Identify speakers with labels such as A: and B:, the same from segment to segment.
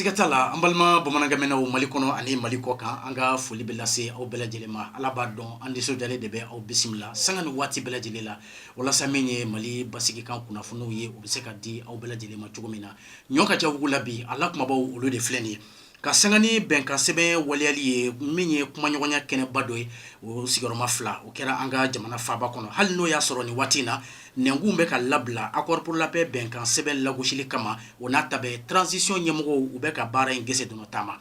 A: Siga t'a la an balima bamanankan mɛnnaw mali kɔnɔ ani mali kɔ kan an ka foli bɛ lase aw bɛɛ lajɛlen ma ala b'a dɔn an nisɔndiyalen de bɛ aw bisimila sanga ni waati bɛɛ lajɛlen la walasa min ye mali basigikan kunnafoniw ye u bɛ se ka di aw bɛɛ lajɛlen ma cogo min na ɲɔ ka cɛw la bi a la kumabaw olu de filɛ nin ye Ka sanga ni bɛnkan sɛbɛn waleyali ye min ye kumaɲɔgɔnya kɛnɛba dɔ ye o sigiyɔrɔma fila o kɛra an ka jamana faaba kɔnɔ hali n'o y'a sɔrɔ nin waati in na nɛnkun bɛ ka labila accord pour la paix bɛnkan sɛbɛn lagosili kama o n'a ta bɛɛ transition ɲɛmɔgɔw u bɛ ka baara in gese dɔnɔ taama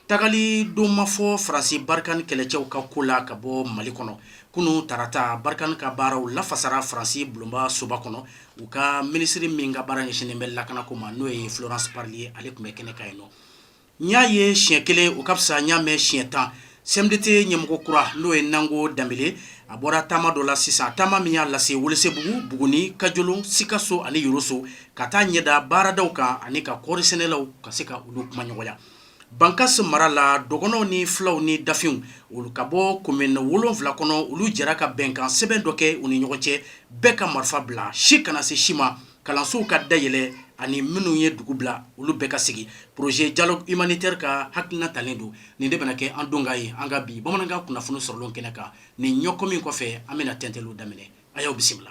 A: tagali don ma fɔ faransi Barkhane kɛlɛcɛw ka ko la ka bɔ mali kɔnɔ kunun tarata Barkhane ka baaraw lafasara faransi bulonba soba kɔnɔ u ka minisiri min ka baara ɲɛsinnen bɛ lakanako ma n'o ye Florence Parly ye ale tun bɛ kɛnɛ kan yen nɔ, n y'a ye siɲɛ kelen o ka fisa n y'a mɛn siɲɛ tan CMDT ɲɛmɔgɔ kura n'o ye Nango Danbele a bɔra taama dɔ la sisan taama min y'a lase Welesebugu, Buguni, Kajolon, Sikaso ani Yoroso ka taa ɲɛ da baaradaw kan ani ka kɔɔrisɛnɛlaw ka se ka olu kumaɲɔgɔnya. Bankasi mara la dɔgɔnɔw ni filaw ni dafinw olu ka bɔ komini wolonfila kɔnɔ olu jɛra ka bɛnkan sɛbɛn dɔ kɛ u ni ɲɔgɔn cɛ bɛɛ ka marifa bila si kana se si ma kalansow ka dayɛlɛ ani minnu ye dugu bila olu bɛɛ ka segin projet dialogue humanitaire ka hakilina talen don nin de bɛna kɛ an donkan ye an ka bi bamanankan kunnafoni sɔrɔlenw kɛnɛ kan nin ɲɛkɔmi kɔfɛ an bɛna tɛntɛliw daminɛ a y'aw bisimila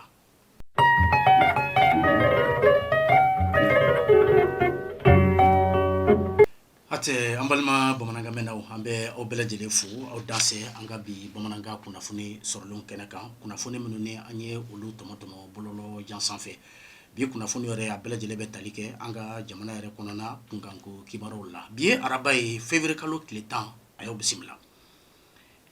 A: Hatɛ an balima bamanankan mɛnnaw an bɛ aw bɛɛ lajɛlen fo aw danse an ka bi bamanankan kunnafoni sɔrɔlen kɛnɛ kan kunnafoni minnu ni an ye olu tɔmɔ tɔmɔ bɔlɔlɔ jan sanfɛ bi kunnafoni yɛrɛ a bɛɛ lajɛlen bɛ tali kɛ an ka jamana yɛrɛ kɔnɔna kunkanko kibaruw la bi ye araba ye février kalo tile tan a y'aw bisimila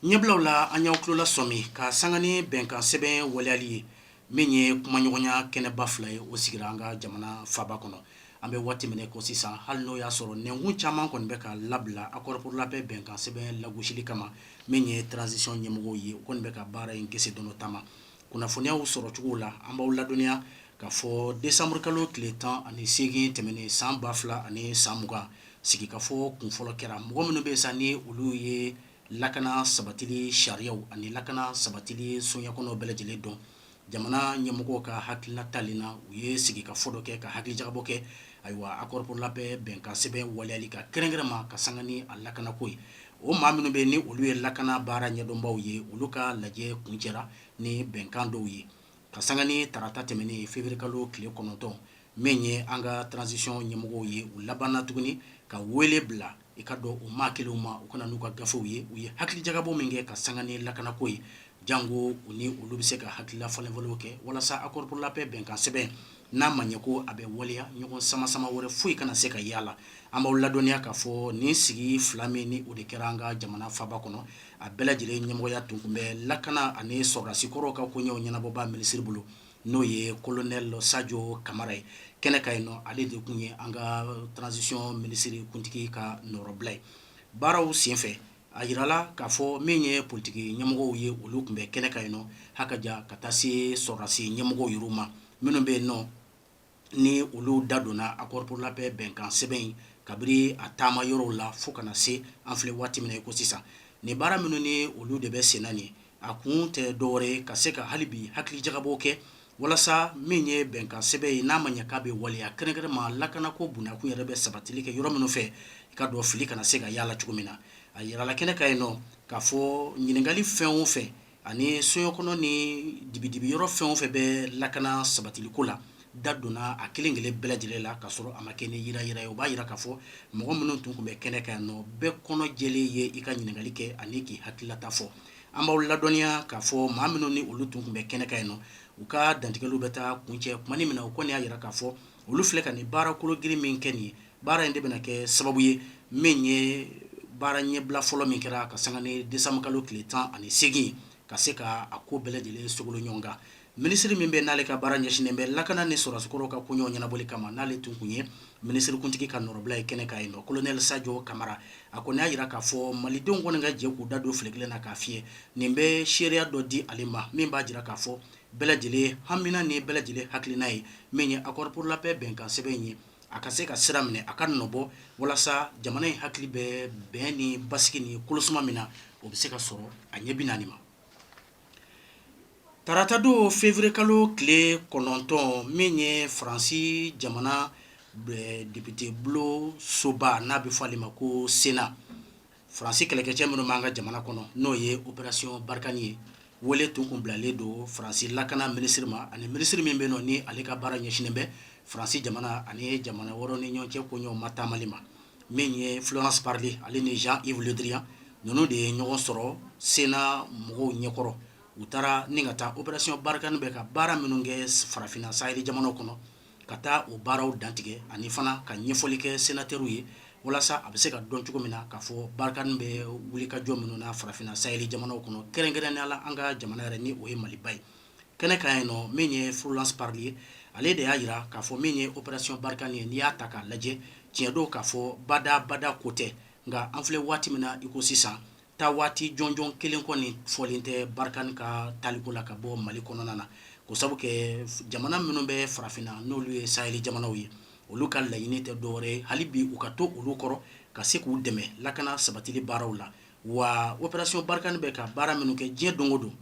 A: Ɲɛbilaw la an y'aw tulo lasɔmi ka sanga ni bɛnkan sɛbɛn waleyali ye min ye kumaɲɔgɔnya kɛnɛba fila ye o sigira an ka jamana faaba kɔnɔ an bɛ waati min na ko sisan hali n'o y'a sɔrɔ nɛnkun caman kɔni bɛ ka labila accord pour la paix bɛnkan sɛbɛn lagosili kama min ye transition ɲɛmɔgɔw ye o kɔni bɛ ka baara in gese dɔnɔ taama Kunnafoni y'an sɔrɔ cogo la an b'aw ladɔnniya k'a fɔ décembre kalo tile tan ani segin tɛmɛnen san ba fila ani san mugan sigikafɔ kunfɔlɔ kɛra mɔgɔ minnu bɛ san ni olu ye lakana sabatili sariyaw ani lakana sabatili soɲa kɔnɔ bɛɛ lajɛlen dɔn jamana ɲɛmɔgɔw ka hakilina talen na u ye sigikafɔ dɔ kɛ ka hakilijakabɔ kɛ ayiwa accord pour la paix bɛnkansɛbɛn waleyali kan kɛrɛnkɛrɛnma ka sanga ni a lakanako ye o maa minnu bɛ ni olu ye lakana baara ɲɛdɔnbaw ye olu ka lajɛ kuncɛra ni bɛnkan dɔw ye ka sanga ni tarata tɛmɛnen février kalo tile kɔnɔntɔn min ye an ka transition ɲɛmɔgɔw ye u labanna tuguni ka wele bila i k'a dɔn o maa kelenw ma u ka na n'u ka gafew ye u ye hakilijagabɔ min kɛ ka sanga ni lakanako ye janko u ni olu bɛ se ka hakilila falenfalenw kɛ walasa accord pour la paix bɛnkansɛbɛn n'a ma ɲɛ ko a bɛ waleya ɲɔgɔn sama sama wɛrɛ foyi kana se ka ye a la, an b'aw ladɔnniya k'a fɔ nin sigi fila min ni o de kɛra an ka jamana faaba kɔnɔ, a bɛɛ lajɛlen ɲɛmɔgɔya tun kun bɛ lakana ani sɔrɔdasi kɔrɔw ka koɲɛw ɲɛnabɔbaa minisiri bolo, n'o ye colonel Sajo Kamara ye, kɛnɛ kan yen nɔ, ale de kun ye an ka transition minisiri kuntigi ka nɔrɔbila ye, baaraw senfɛ A yirala k'a fɔ min ye politiki ɲɛmɔgɔw ye olu tun bɛ kɛnɛ kan yen nɔ ha ka jan ka taa se sɔrɔdasi ɲɛmɔgɔw yɛrɛw ma minnu bɛ yen nɔ ni olu da donna accord pour la paix bɛnkan sɛbɛn in kabiri a taama yɔrɔw la fo kana na se an filɛ waati min na i ko sisan nin baara minnu ni olu de bɛ sen na nin a kun tɛ dɔwɛrɛ ye ka se ka hali bi hakilijagabɔ kɛ walasa min ye bɛnkan sɛbɛn ye n'a ma ɲɛ k'a bɛ waleya kɛrɛnkɛrɛnma lakanako bunakun yɛrɛ bɛ sabatili kɛ yɔrɔ minnu fɛ i k'a dɔn fili kana se ka ye a la cogo min na a yirala kɛnɛ kan yen nɔ k'a fɔ ɲininkali fɛn o fɛn ani soɲɔ kɔnɔ ni dibidibi yɔrɔ fɛn o fɛn bɛ lakana sabatiliko la da donna a kelen kelen bɛɛ lajɛlen la ka sɔrɔ a ma kɛ ni yiranyiran ye o b'a jira k'a fɔ mɔgɔ minnu tun kun bɛ kɛnɛ kan yan nɔ bɛɛ kɔnɔ jɛlen ye i ka ɲininkali kɛ ani k'i hakililata fɔ an b'aw ladɔnniya k'a fɔ maa minnu ni olu tun kun bɛ kɛnɛ kan yan nɔ u ka dantigɛliw bɛ taa kuncɛ tuma min na u kɔni y'a jira k'a fɔ olu filɛ ka nin baara kologirin min kɛ nin ye baara in de bɛna kɛ sababu ye min ye baara ɲɛbila fɔlɔ min kɛra ka sanga ni décembre kalo tile tan ani seegin ka se ka a ko bɛɛ lajɛlen sogolo ɲɔgɔn kan Minisiri min bɛ n'ale ka baara ɲɛsinnen bɛ lakana ni sɔrɔdasikɔrɔw ka koɲɛw ɲɛnabɔli kama n'ale tun kun ye minisirikuntigi ka nɔrɔbila ye kɛnɛ kan yen nɔ, Kolonɛli Sajo Kamara, a kɔni y'a jira k'a fɔ Malidenw kɔni ka jɛ k'u da don file kelen na k'a fiyɛ, nin bɛ seereya dɔ di ale ma min b'a jira k'a fɔ bɛɛ lajɛlen hamina ni bɛɛ lajɛlen hakilina ye min ye accord pour la paix bɛnkan sɛbɛn in ye, a ka se ka sira minɛ, a ka nɔbɔ walasa jamana in hakili bɛ bɛn ni basigi ni kolosuma min na, o bɛ se ka sɔrɔ a ɲɛ bi naani ma. Tarata don février kalo tile kɔnɔntɔn min ye faransi jamana depitebulon soba n'a bɛ fɔ ale ma ko Sénat faransi kɛlɛkɛcɛ minnu b'an ka jamana kɔnɔ n'o ye opération Barkhane ye wele tun kun bilalen don faransi lakana minisiri ma ani minisiri min bɛ yen nɔ ni ale ka baara ɲɛsinnen bɛ faransi jamana ani jamana wɛrɛw ni ɲɔgɔn cɛ koɲɛw mataamali ma min ye Florence Parly ale ni Jean Yves Le Drian ninnu de ye ɲɔgɔn sɔrɔ Sénat mɔgɔw ɲɛkɔrɔ u taara ni ka taa opération Barkhane bɛ ka baara minnu kɛ farafinna sahel jamanaw kɔnɔ ka taa o baaraw dantigɛ ani fana ka ɲɛfɔli kɛ sénateurs ye walasa a bɛ se ka dɔn cogo min na k'a fɔ Barkhane bɛ wulikajɔ minnu na farafinna sahel jamanaw kɔnɔ kɛrɛnkɛrɛnnenya la an ka jamana yɛrɛ ni o ye Maliba ye kɛnɛ kan yen nɔ min ye Florence Parly ye ale de y'a jira k'a fɔ min ye opération Barkhane ye n'i y'a ta k'a lajɛ tiɲɛ don k'a fɔ bada bada ko tɛ nka an filɛ waati min na i ko sisan taa waati jɔnjɔn kelen kɔni fɔlen tɛ Barkhane ka taliko la ka bɔ Mali kɔnɔna na ko sabu kɛ jamana minnu bɛ farafinna n'olu ye sahel jamanaw ye olu ka laɲini tɛ dɔwɛrɛ hali bi u ka to olu kɔrɔ ka se k'u dɛmɛ lakana sabatili baaraw la wa opération Barkhane bɛ ka baara minnu kɛ diɲɛ don o don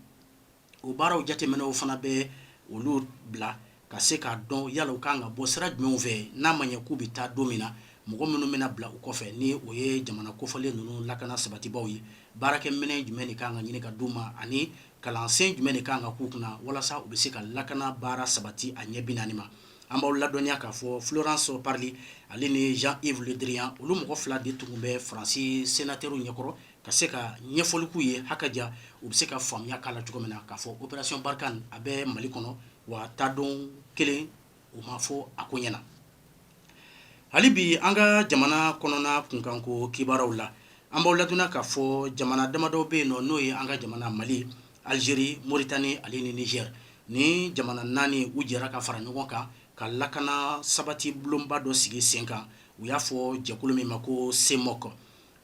A: o baaraw jateminɛw fana bɛ olu bila ka se k'a dɔn yala u kan ka bɔ sira jumɛnw fɛ n'a ma ɲɛ k'u bɛ taa don min na mɔgɔ minnu bɛna bila u kɔfɛ ni o ye jamana kofɔlen ninnu lakana sabatibaw ye baarakɛminɛn jumɛn de kan ka ɲini ka d'u ma ani kalansen jumɛn de kan ka k'u kunna walasa u bɛ se ka lakana baara sabati a ɲɛ bi naani ma an b'aw ladɔnniya k'a fɔ Florence Parly ale ni Jean Yves Le Drian olu mɔgɔ fila de tun bɛ Faransi sénateurs ɲɛkɔrɔ ka se ka ɲɛfɔli k'u ye ha ka ja u bɛ se ka faamuya k'a la cogo min na k'a fɔ opération Barkhane a bɛ Mali kɔnɔ wa taa don kelen u ma fɔ a ko ɲɛna hali bi an ka jamana kɔnɔna kunkanko kibaraw la an b'aw ladɔnniya k'a fɔ jamana damadɔ bɛ yen nɔ n'o ye an ka jamana Mali Algérie Mauritanie ale ni Niger ni jamana naani u jɛra ka fara ɲɔgɔn kan ka lakana sabati bulonba dɔ sigi sen kan u y'a fɔ jɛkulu min ma ko CEMOC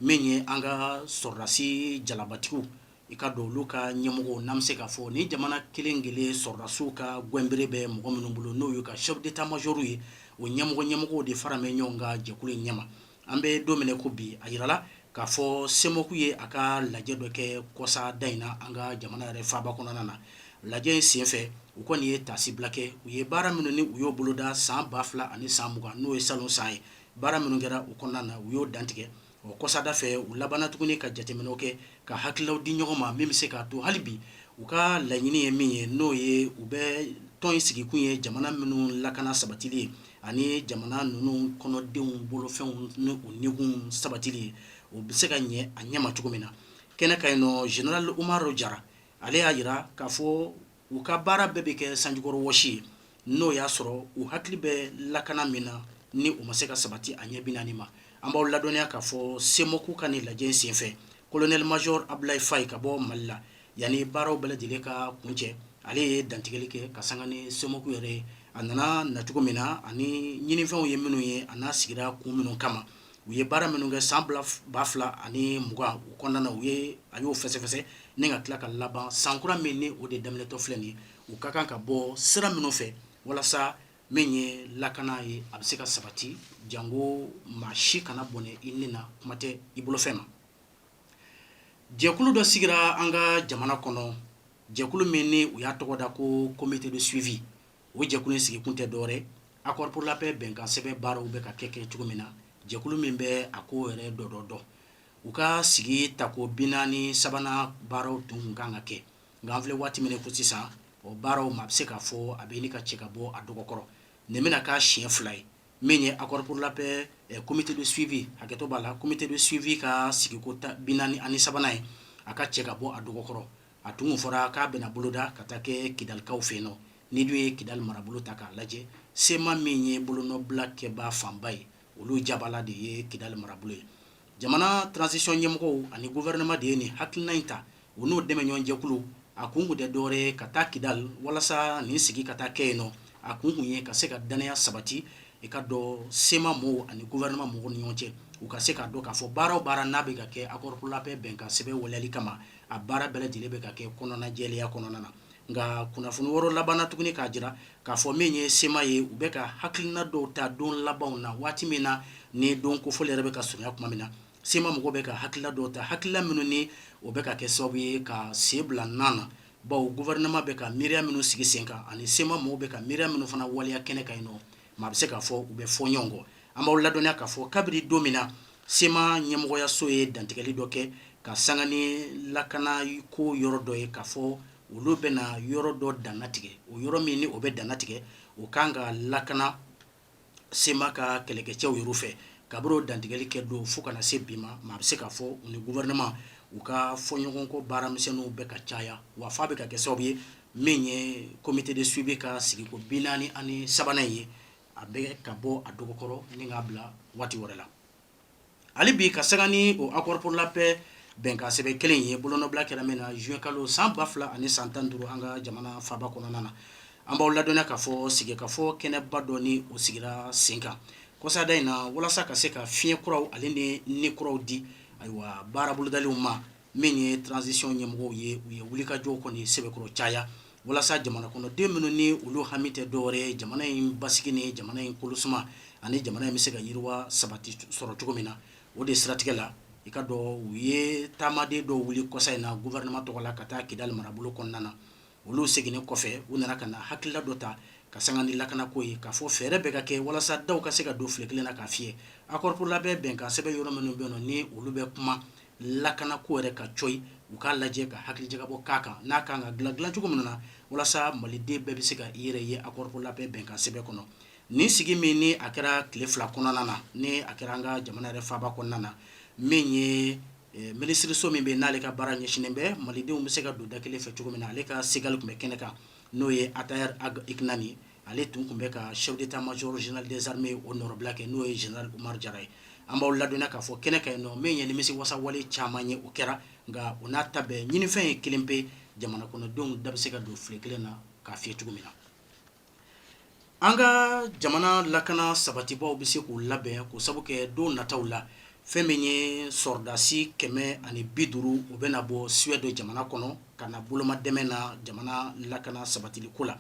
A: min ye an ka sɔrɔdasi jalabatigiw i ka don olu ka ɲɛmɔgɔw n'an bɛ se k'a fɔ ni jamana kelen kelen sɔrɔdasiw ka gɛnbere bɛ mɔgɔ minnu bolo n'o y'u ka chef d'état major ye o ɲɛmɔgɔ ɲɛmɔgɔw de fara bɛ ɲɔgɔn kan jɛkulu in ɲɛma an bɛ don min na i ko bi a jirala k'a fɔ CEMOC ye a ka lajɛ dɔ kɛ kɔsa da in na an ka jamana yɛrɛ faaba kɔnɔna na lajɛ in senfɛ u kɔni ye taasibila kɛ u ye baara minnu ni u y'o boloda san 2000 ani san 20 n'o ye salon san ye baara minnu kɛra o kɔnɔna na u y'o dantigɛ o kɔsada fɛ u labanna tuguni ka jateminɛ kɛ ka hakililaw di ɲɔgɔn ma min bɛ se k'a to hali bi u ka laɲini ye min ye n'o ye u bɛ tɔn in sigikun ye jamana minnu lakana sabatili ye ani jamana ninnu kɔnɔdenw bolofɛnw ni u nikun sabatili ye o bɛ se ka ɲɛ a ɲɛma cogo min na kɛnɛ kan yen nɔ général Umaru Jara ale y'a jira k'a fɔ u ka baara bɛɛ bɛ kɛ sanjikɔrɔ wɔsi ye n'o y'a sɔrɔ u hakili bɛ lakana min na ni o ma se ka sabati a ɲɛ bi naani ma an b'aw ladɔnniya k'a fɔ CEMOC ka nin lajɛ senfɛ colonel major Abdoulaye Faye ka bɔ Mali la yanni baaraw bɛɛ lajɛlen ka kuncɛ ale ye dantigɛli kɛ ka sanga ni CEMOC yɛrɛ ye a nana nacogo min na ani ɲinifɛnw ye minnu ye an'a sigira kun minnu kama u ye baara minnu kɛ san ba fila ani mugan u kɔnɔna u ye a y'o fɛsɛfɛsɛ ni ka tila ka laban san kura min ni o de daminɛtɔ filɛ nin u ka kan ka bɔ sira minnu fɛ walasa min ye lakana ye a bɛ se ka sabati jango maa si kana bɔnɛ i ni na kuma tɛ i bolofɛn ma jɛkulu dɔ sigira an ka jamana kɔnɔ jɛkulu min ni u y'a tɔgɔ da ko comité de suivi o jɛkulu in sigikun tɛ dɔwɛrɛ ye accord pour la paix bɛnkan sɛbɛn baaraw bɛ ka kɛ cogo min na, jɛkulu min bɛ a ko yɛrɛ dɔ dɔ dɔn, u ka sigi tako 43nan baaraw tun tun ka kan ka kɛ, nka an filɛ waati min na i ko sisan, o baaraw ma a bɛ se k'a fɔ a bɛ ɲini ka cɛ ka bɔ a dɔgɔkɔrɔ, nin bɛna k'a siɲɛ fila ye min ye accord pour la paix comité de suivi hakɛto b'a la, comité de suivi ka sigiko 43nan ye, a ka cɛ ka bɔ a dɔgɔ kɔrɔ. a tun fɔra k'a bɛna boloda ka taa kɛ kidalikaw fɛ yen nɔ n'i dun ye kidali marabolo ta k'a lajɛ sema min ye bolonɔbila kɛbaa fanba ye olu jabala de ye kidali marabolo ye jamana transition ɲɛmɔgɔw ani gouvernement de ye nin hakilina in ta u n'o dɛmɛɲɔgɔn jɛkulu a kun tun tɛ dɔwɛrɛ ka taa kidali walasa nin sigi ka taa kɛ yen nɔ a kun tun ye ka se ka danaya sabati i ka dɔn sema maaw ani gouvernement mɔgɔw ni ɲɔgɔn cɛ u ka se k'a dɔn k'a fɔ baara o baara n'a bɛ ka kɛ accord pour la paix bɛnkan sɛbɛn waleyali kama a baara bɛɛ lajɛlen bɛ ka kɛ kɔnɔnajɛlenya kɔnɔna na nka kunnafoni wɛrɛ labanna tuguni k'a jira k'a fɔ min ye sema ye u bɛ ka hakilina dɔw ta don labanw na waati min na ni don kofɔlen yɛrɛ bɛ ka surunya tuma min na sema mɔgɔw bɛ ka hakilila dɔw ta hakilila minnu ni o bɛ ka kɛ sababu ye ka sen bila na na bawo gouvernement bɛ ka miiriya minnu sigi sen kan ani sema mɔgɔw bɛ ka miiriya minnu fana waleya kɛnɛ kan yen nɔ Maa bɛ se k'a fɔ u bɛ fɔ ɲɔgɔn kɔ an b'aw ladɔnniya k'a fɔ kabiri don min na sema ɲɛmɔgɔyaso ye dantigɛli dɔ kɛ ka sanga ni lakana ko yɔrɔ dɔ ye k'a fɔ olu bɛna yɔrɔ dɔ dannatigɛ o yɔrɔ min ni o bɛ dannatigɛ o ka kan ka lakana sema ka kɛlɛkɛcɛw yɛrɛ fɛ kabiri o dantigɛli kɛ don fo ka na se bi ma maa bɛ se k'a fɔ u ni gouvernement u ka fɔɲɔgɔnkɔ baaramisɛnninw bɛ ka caya wa f'a bɛ ka kɛ sababu ye min ye comité de suivi ka sigiko bi naani ani sabanan ye a bɛ ka bɔ a dɔgɔkɔrɔ ni k'a bila waati wɛrɛ la hali bi ka sanga ni o accord pour la paix bɛnkan sɛbɛn kelen ye bolonɔbila kɛra min na juin kalo san ba fila ani san tan duuru an ka jamana faaba kɔnɔna na an b'aw ladɔnniya k'a fɔ sigikafɔ kɛnɛba dɔ ni o sigira sen kan kɔsada in na walasa ka se ka fiɲɛ kuraw ale ni ni kuraw di ayiwa baara bolodaliw ma min ye transition ɲɛmɔgɔw ye u ye wulikajɔw kɔni sɛbɛkɔrɔ caya walasa jamana kɔnɔden minnu ni olu hami tɛ dɔwɛrɛ ye jamana in basigi ni jamana in kolosuma ani jamana in bɛ se ka yiriwa sabati sɔrɔ cogo min na o de siratigɛ la i ka dɔn u ye taamaden dɔw wuli kɔsa in na gouvernement tɔgɔ la ka taa kidali marabolo kɔnɔna na olu seginnen kɔfɛ u nana ka na hakilila dɔ ta ka sanga ni lakana ko ye k'a fɔ fɛɛrɛ bɛɛ ka kɛ walasa da ka se ka don file kelen na k'a fiyɛ accord pour la paix bɛnkan sɛbɛn yɔrɔ minnu bɛ ni olu bɛ kuma lakana ko yɛrɛ kan cɔyi u k'a lajɛ ka hakilijakabɔ k'a kan n'a ka kan ka dilan dilan cogo min na walasa maliden bɛɛ bɛ se ka i yɛrɛ ye accord pour la paix bɛnkan sɛbɛn kɔnɔ nin sigi min ni a kɛra tile fila kɔnɔna na ni a kɛra an ka jamana yɛrɛ faaba kɔnɔna na min ye minisiririso min bɛ n'ale ka baara ɲɛsinnen bɛ malidenw bɛ se ka don da kelen fɛ cogo min na ale ka segali tun bɛ kɛnɛ kan n'o ye ataher ag iknane ye ale tun tun bɛ ka chef d'état-major général des armées o nɔrɔbila kɛ n'o ye général umar jara ye an b'aw ladɔnniya k'a fɔ kɛnɛ kan yen nɔ min ye nimisiwasa wale caman ye o kɛra nka o n'a ta bɛɛ ɲinifɛn ye kelen pe jamana kɔnɔdenw da bɛ se ka don file kelen na k'a fiyɛ cogo min na An ka jamana lakana sabatibaw bɛ se k'u labɛn k'o sabu kɛ don nataw la fɛn min ye sɔrɔdasi kɛmɛ ani bi duuru u bɛna bɔ suède jamana kɔnɔ ka na bolomadɛmɛ na jamana lakana sabatili ko la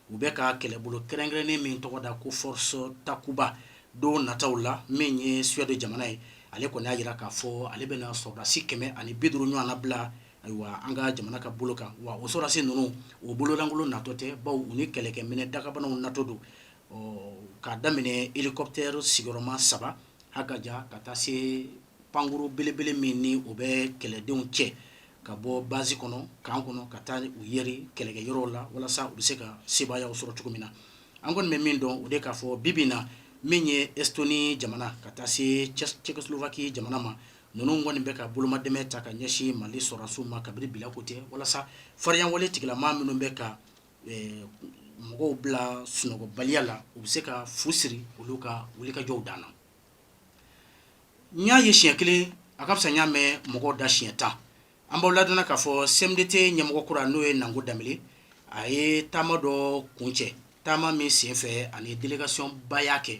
A: u bɛ ka kɛlɛbolo kɛrɛnkɛrɛnnen min tɔgɔ da ko force takuba don nataw la min ye suède jamana ye ale kɔni y'a jira k'a fɔ ale bɛna sɔrɔdasi kɛmɛ ani bi duuru ɲɔgɔn na bila Ayiwa an ka jamana ka bolo kan wa o sɔrɔdasi ninnu u bololankolon natɔ tɛ bawo u ni kɛlɛkɛminɛ dagabanaw natɔ don ɔ k'a daminɛ hélicoptère sigiyɔrɔma saba ha ka jan ka taa se pankurun belebele min ni o bɛ kɛlɛdenw cɛ ka bɔ basi kɔnɔ kan kɔnɔ ka taa u yɛri kɛlɛkɛ yɔrɔ la walasa u bɛ se ka sebaaya sɔrɔ cogo min na an kɔni bɛ min dɔn o de k'a fɔ bi bi in na min ye estonie jamana ka taa se tchécoslovaquie jamana ma ninnu kɔni bɛ ka bolomadɛmɛ ta ka ɲɛsin mali sɔrɔdasiw ma kabiri bi la ko tɛ walasa faririnya tigila maa minnu bɛ ka mɔgɔw bila sunɔgɔbaliya la u bɛ se ka fu siri olu ka wulikajɔw dan na n y'a ye siɲɛ kelen a ka fisa n y'a mɛn mɔgɔw da siɲɛ tan an b'aw ladɔnniya k'a fɔ CMDT ɲɛmɔgɔ kura n'o ye nango danbele a ye taama dɔ kuncɛ taama min senfɛ ani delegasiyonba y'a kɛ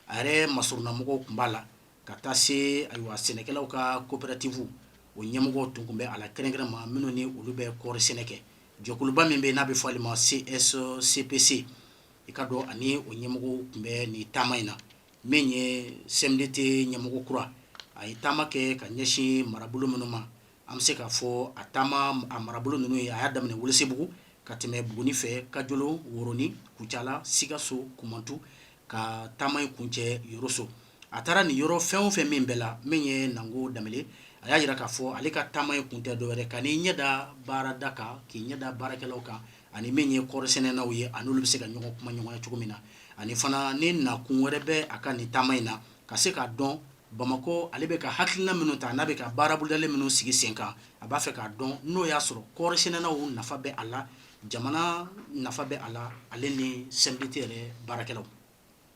A: a yɛrɛ masurunnamɔgɔw tun b'a la ka taa se ayiwa sɛnɛkɛlaw ka kopɛratifu o ɲɛmɔgɔ tun bɛ a la kɛrɛnkɛrɛnma minnu ni olu bɛ kɔɔri sɛnɛ kɛ jɔkuluba min bɛ n'a bɛ fɔ ale ma CSCPC i k'a dɔn ani o ɲɛmɔgɔ tun bɛ nin taama in na min ye CMDT ɲɛmɔgɔ kura a ye taama kɛ ka ɲɛsin marabolo minnu ma an bɛ se k'a fɔ a taama a marabolo ninnu ye a y'a daminɛ welesebugu ka tɛmɛ buguni fɛ kajolo woroni kucala sikaso kumantu ka taama in kuncɛ yoroso a taara nin yɔrɔ fɛn o fɛn min bɛɛ la min ye nango danbele a y'a jira k'a fɔ ale ka taama in kun tɛ dɔwɛrɛ ka n'i ɲɛda baarada kan k'i ɲɛda baarakɛlaw kan ani min ye kɔɔrisɛnɛnaw ye ani olu bɛ se ka ɲɔgɔn kumaɲɔgɔnya cogo min na ani fana ni nakun wɛrɛ bɛ a ka nin taama in na ka se k'a dɔn bamakɔ ale bɛ ka hakilina minnu ta n'a bɛ ka baara bolodalen minnu sigi sen kan a b'a fɛ k'a dɔn n'o y'a sɔrɔ kɔɔrisɛnɛnaw nafa bɛ a la jamana nafa bɛ a la ale ni CMDT yɛrɛ baarakɛlaw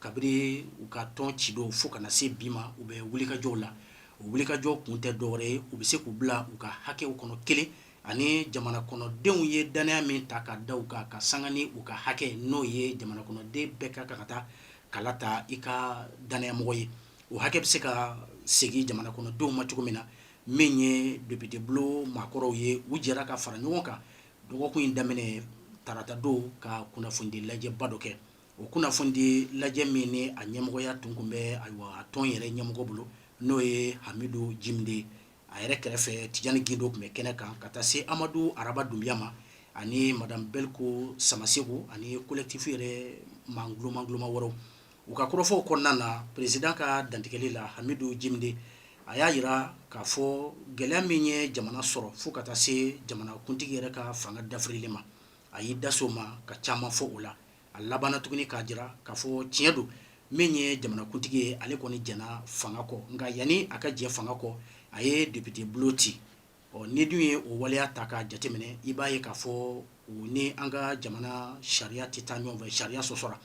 A: kabini u ka tɔn ci dɔw fo kana na se bi ma u bɛ wulikajɔw la o wulikajɔ kun tɛ dɔwɛrɛ ye u bɛ se k'u bila u ka hakɛw kɔnɔ kelen ani jamana kɔnɔdenw ye danaya min ta ka da u kan ka sanga ni u ka hakɛ n'o ye jamana kɔnɔden bɛɛ ka kan ka taa kala ta i ka danayamɔgɔ ye o hakɛ bɛ se ka segin jamana kɔnɔdenw ma cogo min na min ye depite bulon maakɔrɔw ye u jɛra ka fara ɲɔgɔn kan dɔgɔkun in daminɛ tarata don ka kunnafonidi lajɛba dɔ kɛ O kunnafonidi lajɛ min ni a ɲɛmɔgɔya tun kun bɛ a tɔn yɛrɛ ɲɛmɔgɔ bolo n'o ye hamidu jimide a yɛrɛ kɛrɛfɛ tijani gindo tun bɛ kɛnɛ kan ka taa se amadu araba dunbiya ma ani madamu belko samaseku ani kolɛtifi yɛrɛ maa koloma koloma wɛrɛw u ka kɔrɔfɔw kɔnɔna na peresidan ka dantigɛli la hamidu jimide a y'a jira k'a fɔ gɛlɛya min ye jamana sɔrɔ fo ka taa se jamanakuntigi yɛrɛ ka fanga dafirili ma a y'i daso ma ka caman fɔ o la a labanna tuguni k'a jira k'a fɔ tiɲɛ don min ye jamanakuntigi ye ale kɔni jɛna fanga kɔ nka yanni a ka jɛ fanga kɔ a ye depite bulon ci ɔ n'i dun ye o waleya ta k'a jateminɛ i b'a ye k'a fɔ o ni an ka jamana sariya tɛ taa ɲɔgɔn fɛ sariya sɔsɔra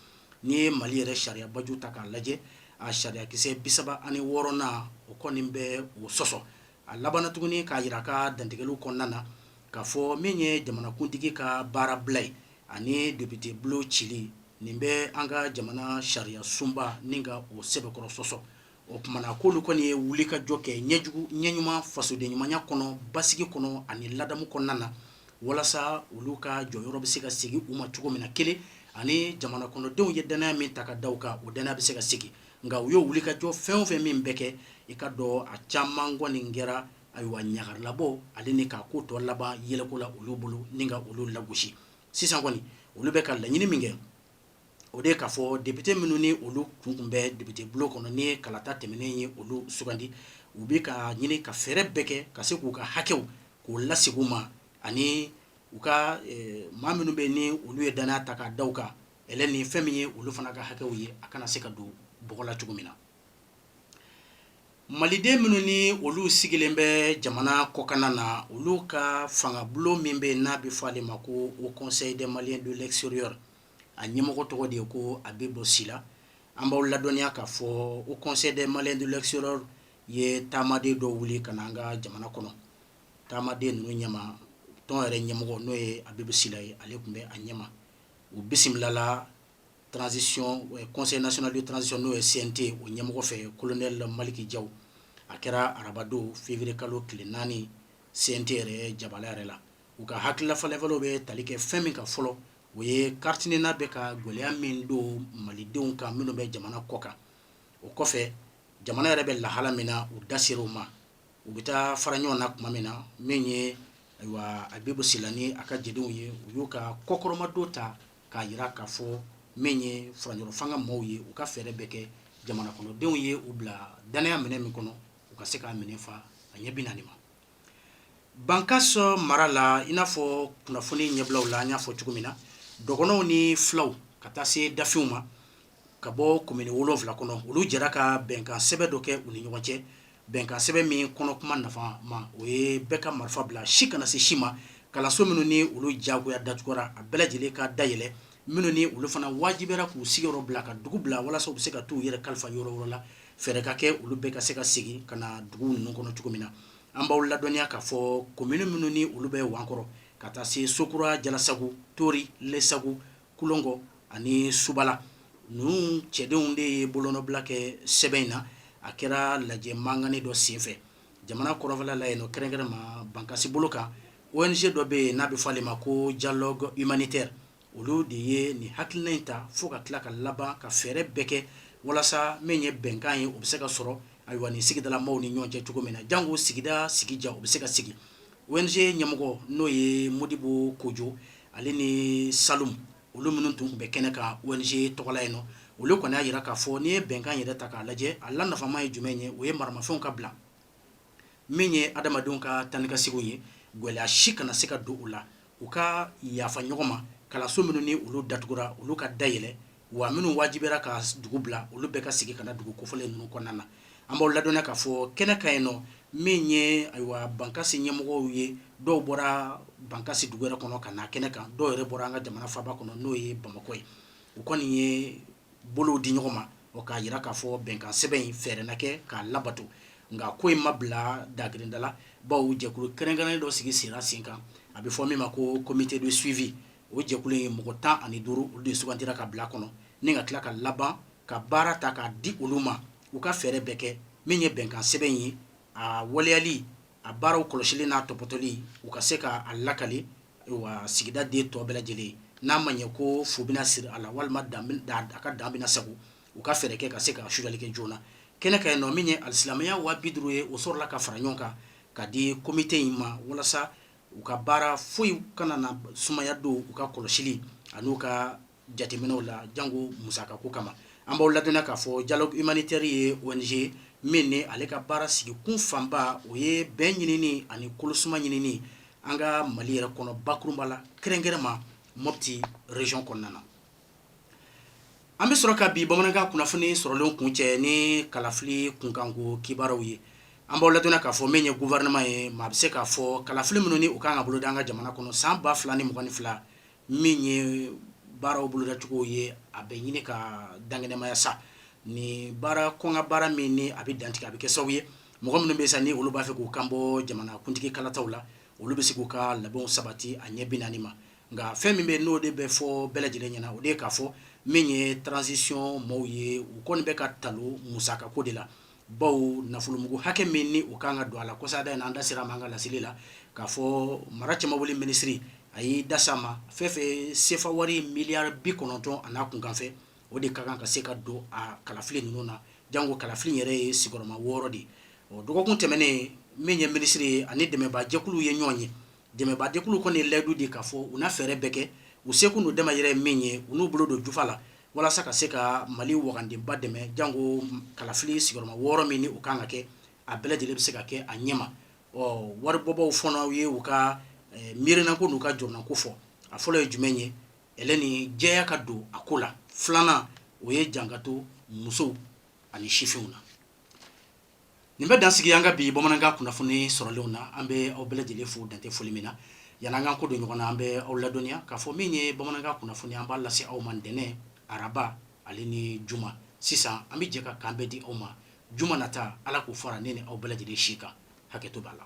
A: n'i ye mali yɛrɛ sariyabaju ta k'a lajɛ a sariyakisɛ bi saba ani wɔɔrɔnan o kɔni bɛ o sɔsɔ a labanna tuguni k'a jira a ka dantigɛli kɔnɔna na k'a fɔ min ye jamanakuntigi ka baara bila ye ani depite bulon cili nin bɛ an ka jamana sariya sunba ni ka o sɛbɛkɔrɔ sɔsɔ o tuma na k'olu kɔni ye wulikajɔ kɛ ɲɛjugu ɲɛ ɲuman fasoden ɲumanya kɔnɔ basigi kɔnɔ ani ladamu kɔnɔna na walasa olu ka jɔyɔrɔ bɛ se ka segin u ma cogo min na kelen ani jamana kɔnɔdenw ye danaya min ta ka da u kan o danaya bɛ se ka segin nka u ye wulikajɔ fɛn o fɛn min bɛɛ kɛ i k'a dɔn a caman kɔni kɛra ayiwa ɲagarilabɔ ale ni k'a ko tɔ laban yɛlɛko la olu bolo ni ka olu lagosi sisan kɔni olu bɛ ka laɲini min kɛ o de k'a fɔ depite minnu ni olu tun kun bɛ depite bulon kɔnɔ ni kalata tɛmɛnen ye olu sugandi u bɛ ka ɲini ka fɛɛrɛ bɛɛ kɛ ka se k'u ka hakɛw k'o lasegin u ma ani u ka eh, maa minnu bɛ ni olu ye danaya ta k'a da u kan ɛlɛn ni fɛn min ye olu fana ka hakɛw ye a kana se ka don bɔgɔ la cogo min na Maliden minnu ni olu sigilen bɛ jamana kɔkanna na olu ka fangabulon min bɛ n'a bɛ fɔ ale ma ko haut conseil des Maliens de l'extérieur a ɲɛmɔgɔ tɔgɔ de ye ko Abibu Sila an b'aw ladɔnniya k'a fɔ haut conseil des Maliens de l'extérieur ye taamaden dɔ wuli ka na an ka jamana kɔnɔ taamaden ninnu ɲɛma tɔn yɛrɛ ɲɛmɔgɔ n'o ye Abibu Sila ye ale tun bɛ a ɲɛma u bisimilala transition euh, conseil national de transition n'o ye CNT o ɲɛmɔgɔ fɛ colonel Maliki Jaw a kɛra arabadon février kalo tile naani CNT yɛrɛ jabala yɛrɛ la u ka hakilila falenfalenw bɛ tali kɛ fɛn min ka fɔlɔ o ye carte NINA bɛ ka gɛlɛya min don malidenw kan minnu bɛ jamana kɔ kan o kɔfɛ jamana yɛrɛ bɛ lahala min na u da ser'o ma u bɛ taa fara ɲɔgɔn na tuma min na min ye ayiwa Abibu Sila ni a ka jɛdenw ye u y'u ka kɔkɔrɔmadon ta k'a jira k'a fɔ min ye furancɛrɔ fanga maaw ye u ka fɛɛrɛ bɛɛ kɛ jamana kɔnɔdenw ye u bila dannaya minɛn min kɔnɔ u ka se k'a minɛn fa a ɲɛ binaani ma Bankasi mara la i n'a fɔ kunnafoni ɲɛbilaw la an y'a fɔ cogo min na dɔgɔnɔw ni filaw ka taa se dafinw ma ka bɔ komini wolonwula kɔnɔ olu jɛra ka bɛnkan sɛbɛn dɔ kɛ u ni ɲɔgɔn cɛ bɛnkan sɛbɛn min kɔnɔ kuma nafama o ye bɛɛ ka marifa bila si kana se si ma kalanso minnu ni olu jagoya datugura a bɛɛ lajɛlen ka dayɛlɛ minnu ni olu fana wajibiyara k'u sigiyɔrɔ bila ka dugu bila walasa u bɛ se ka taa u yɛrɛ kalifa yɔrɔ wɛrɛ la fɛɛrɛ ka kɛ olu bɛɛ ka se ka segin ka na dugu ninnu kɔnɔ cogo min na an b'aw ladɔnniya k'a fɔ komini minnu ni olu bɛ wankɔrɔ ka taa se sokura jalasagu tori lɛsa kulogon ani subala ninnu cidenw de ye bolonɔbila kɛ sɛbɛn in na a kɛra lajɛ manen dɔ senfɛ jamana kɔrɔnfɛla la yen kɛrɛnkɛrɛn ma bankasi bolo kan ONG dɔ bɛ yen n'a bɛ fɔ ale ma ko dialogue humanitaire olu de ye nin hakilina in ta fo ka tila ka laban ka fɛɛrɛ bɛɛ kɛ walasa min ye bɛnkan ye o bɛ se ka sɔrɔ ayiwa nin sigidala maaw ni ɲɔgɔn cɛ cogo min na janko sigida sigidiya o bɛ se ka sigi ONG ɲɛmɔgɔ n'o ye mɔdibo kojɔ ale ni Salum olu minnu tun tun bɛ kɛnɛ kan ONG tɔgɔla yen nɔ olu kɔni y'a jira k'a fɔ n'i ye bɛnkan yɛrɛ ta k'a lajɛ a la nafama ye jumɛn ye o ye maramafɛnw ka bila min ye adamadenw ka taa ni ka segin ye gɛlɛya si kana se ka don u la u ka yafa ɲɔgɔn ma kalanso minnu ni olu datugura olu ka dayɛlɛ wa minnu wajibiyara ka dugu bila olu bɛɛ ka segin ka na dugu kofɔlen ninnu kɔnɔna na an b'aw ladɔnniya k'a fɔ kɛnɛ kan yen nɔ min ye ayiwa bankasi ɲɛmɔgɔw ye dɔw bɔra bankasi dugu yɛrɛ kɔnɔ ka na kɛnɛ kan dɔw yɛrɛ bɔra an ka jamana faaba kɔnɔ n'o ye bamakɔ ye u kɔni ye bolow di ɲɔgɔn ma o k'a jira k'a fɔ bɛnkan sɛbɛn in fɛɛrɛ na kɛ k'a labato nka ko in ma bila dagkirinda la bawo jɛkulu kɛrɛnkɛrɛnnen dɔ sigi sen kan a bɛ fɔ min ma ko comité de suivi o jɛkulu ye mɔgɔ tan ani duuru olu de sugantira ka bila kɔnɔ ni ka tila ka laban ka baara ta k'a di olu ma u ka fɛɛrɛ bɛɛ kɛ min ye bɛnkan sɛbɛn ye a waleyali a baaraw kɔlɔsili n'a tɔpɔtɔli u ka se k'a lakali wa sigida den tɔ bɛɛ lajɛlen n'a ma ɲɛ ko fu bɛna siri a la walima a ka dan bɛna sagon u ka fɛɛrɛ kɛ ka se ka sudali kɛ joona na kɛnɛ kan yen nɔ min ye wari silamɛya wa bi duuru ye o sɔrɔla ka fara ɲɔgɔn kan ka di komite in ma walasa u ka baara foyi kana na sumaya don u ka kɔlɔsili ani u ka jateminɛw la jango musaka ko kama an b'aw ladɔnniya k'a fɔ dialogue humanitaire ye ONG min ni ale ka baara sigi kun fanba o ye bɛn ɲinini ani kolosuma ɲinini an ka mali yɛrɛ kɔnɔ bakurunba la kɛrɛnkɛrɛnma mopti rezyɔn kɔnɔna na An bɛ sɔrɔ ka bi bamanankan kunnafoni sɔrɔlen kuncɛ ni kalafili kunkanko kibaruw ye an b'aw ladɔnniya k'a fɔ min ye gouvernement ye maa bɛ se k'a fɔ kalafili minnu ni u ka kan ka boloda an ka jamana kɔnɔ san ba fila ni mugan ni fila min ye baaraw bolodacogo ye a bɛ ɲini ka dankɛnɛmaya sa ni baara kɔnkan baara min ni a bɛ dantigɛ a bɛ kɛ sababu ye mɔgɔ minnu bɛ sa ni olu b'a fɛ k'u kanbɔ jamanakuntigi kalata la olu bɛ se k'u ka labɛnw sabati a ɲɛ bi naani ma Nka fɛn min bɛ n'o de bɛ fɔ bɛɛ lajɛlen ɲɛna o de ye k'a fɔ min ye transition maaw ye u kɔni bɛ ka talon musakako de la bawo nafolomugu hakɛ min ni u ka kan ka don a la kɔsa da in an da sera an ka laseli la k'a fɔ mara cɛmabɔli minisiri a y'i da s'a ma fɛn fɛ sefa wari miliyari bi kɔnɔntɔn a n'a kunkanfɛn o de ka kan ka se ka don a kalafili ninnu na janko kalafili yɛrɛ ye sigiyɔrɔma wɔɔrɔ de ye o dɔgɔkun tɛmɛnen min ye minisiri ye ani dɛmɛbaajɛkulu ye ɲɔgɔn ye Dɛmɛbagajɛkulu kɔni ye layidu di k'a fɔ u na fɛɛrɛ bɛɛ kɛ, u seko n'u damayira ye min ye, u n'u bolo don jufa la walasa ka se ka Mali wagandenba dɛmɛ janko kalafili sigiyɔrɔma wɔɔrɔ min ni o ka kan ka kɛ, a bɛɛ lajɛlen bɛ se ka kɛ a ɲɛma. Ɔ waribɔbaaw fana ye u ka miirinako n'u ka jɔrɔnako fɔ. A fɔlɔ ye jumɛn ye? Elɛni, jɛya ka don a ko la. Filanan, o ye jan ka to musow ani sifinw na. nin bɛ dan sigi an ka bi bamanankan kunnafoni sɔrɔlenw na an bɛ aw bɛɛ lajɛlen fo dantɛ foli min na yann'an k'an kɔ don ɲɔgɔn na an bɛ aw ladɔnniya k'a fɔ min ye bamanankan kunnafoni an b'a lase aw ma ntɛnɛn araba ale ni juma sisan an bɛ jɛ ka kanbɛn di aw ma juma nata ala k'o fara ne ni aw bɛɛ lajɛlen si kan hakɛto b'a la